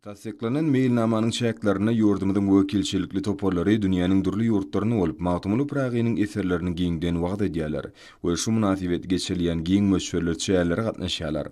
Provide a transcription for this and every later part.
Tassyklanan meýilnamanyň çäklerinde ýurdumyzyň wekilçilikli toparlary dünýäniň dürli ýurtlarynda bolup, Magtymguly Pyragynyň eserlerini giňden wagyz edýärler we şu mynasybetli geçirilýän giň möçberli çärelere gatnaşýarlar.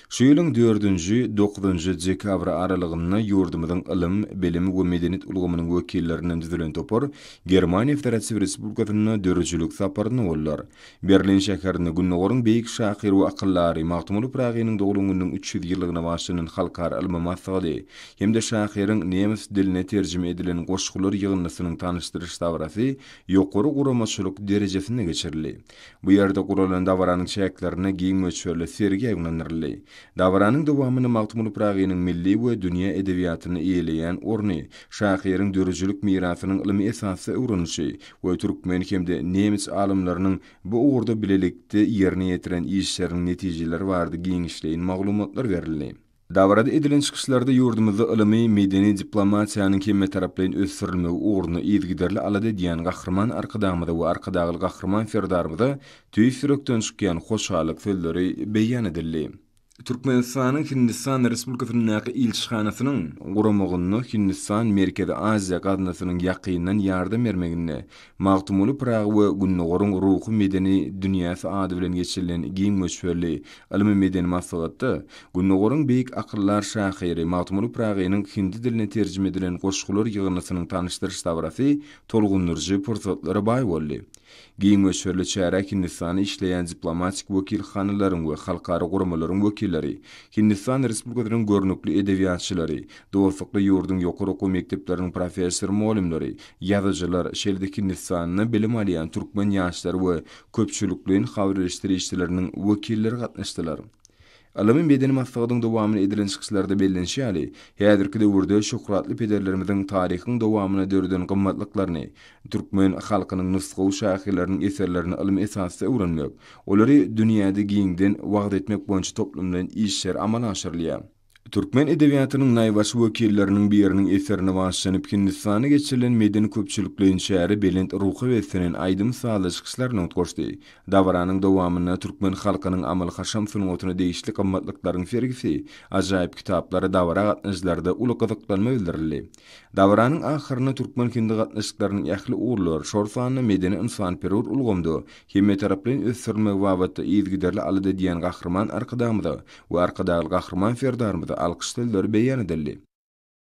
Şu ýylyň dördünji, dokuzynjy dekabry aralygynda ýurdumyzyň ylym, bilim we medeniýet ulgamynyň wekillerinden düzülen topar Germaniýa Federatiw Respublikasynda döredijilik saparynda boldular. Berlin şäherinde Gündogaryň beýik şahyry we akyldary Magtymguly Pyragynyň doglan gününiň üç ýüz ýyllygyna bagyşlanan halkara ylmy maslahaty hem-de şahyryň nemes diline terjime edilen goşgular ýygyndysynyň tanyşdyryş dabarasy ýokary guramaçylyk derejesinde geçirildi. Bu ýerde guralan dabaranyň çäklerinde giň möçberli sergi ýaýbaňlandyryldy. Dabaranyň dowamynda Magtymguly Pyragynyň milli we dünýä edebiýatynda eýeleýän orny, şahyryň döredijilik mirasynyň ylmy esasda öwrenilişi, we türkmen hem-de nemes alymlarynyň bu ugurda bilelikde ýerine ýetiren işleriniň netijeleri barada giňişleýin maglumatlar berildi. Dabarada edilen çykyşlarda ýurdumyzda ylymy, medeni diplomatiýanyň hemmetaraplaýyn ösdürilmegi ugrunda yzygiderli alada edýän Gahryman Arkadagymyza we Arkadagly Gahryman Serdarymyza tüýs ýürekden çykýan hoşallyk sözleri beýan edildi. Türkmenistanyň Hindistan Respublikasyndaky ilçihanasynyň guramagynda Hindistan Merkezi Aziýa gaznasynyň ýakyndan ýardam bermeginde Magtymguly Pyragy we Gündogaryň ruhy-medeni dünýäsi ady bilen geçirilen giň möçberli ylmy-medeni maslahatda Gündogaryň beýik akyldar şahyry Magtymguly Pyragynyň hindi diline terjime edilen goşgular ýygyndysynyň tanyşdyryş dabarasy tolgundyryjy pursatlara baý boldy. Giň möçberli çärä Hindistanda işleýän diplomatik wekilhanalaryň we halkara guramalaryň wekilleri, Hindistan Respublikasynyň görnükli edebiýatçylary, dostlukly ýurduň ýokary okuw mekdepleriniň professor-mugallymlary, ýazyjylar, şeýle-de Hindistanda bilim alýan türkmen ýaşlary we köpçülikleýin habarelişdirişçileriniň wekilleri gatnaşdylar. Ylmy-medeni maslahatyň dowamyny edilen çykyşlarda bellenişi ýaly, häzirki döwürde şöhratly pederlerimiziň taryhyň dowamyna döreden gymmatlyklaryny, türkmen halkynyň nusgawy şahyrlarynyň eserlerini ylmy esasda öwrenmek, olary dünýäde giňden wagyz etmek boýunça toplumlaýyn işler amala aşyrylýar. Türkmen edebiýatynyň naýbaşy wekilleriniň biriniň eserine bagyşlanyp Hindistanda geçirilen medeni-köpçülikleýin çäre belent ruha beslenen aýdym-sazly çykyşlar nygtgoşdy. Dabaranyň dowamynda türkmen halkynyň amaly-haşam sungatyna degişli gymmatlyklaryň sergisi, ajaýyp kitaplar dabara gatnaýjylarda uly gyzyklanma bildirildi. Dabaranyň ahyrynda türkmen-hindi gatnaşyklarynyň ähli ugurlar, şol sanda medeni-ynsanperwer ulgamda hemmetaraplaýyn ösdürilmegi babatda yzygiderli alada edýän Gahryman Arkadagymyza we Arkadagly Gahryman Serdarymyza alkyş sözleri beýan edildi.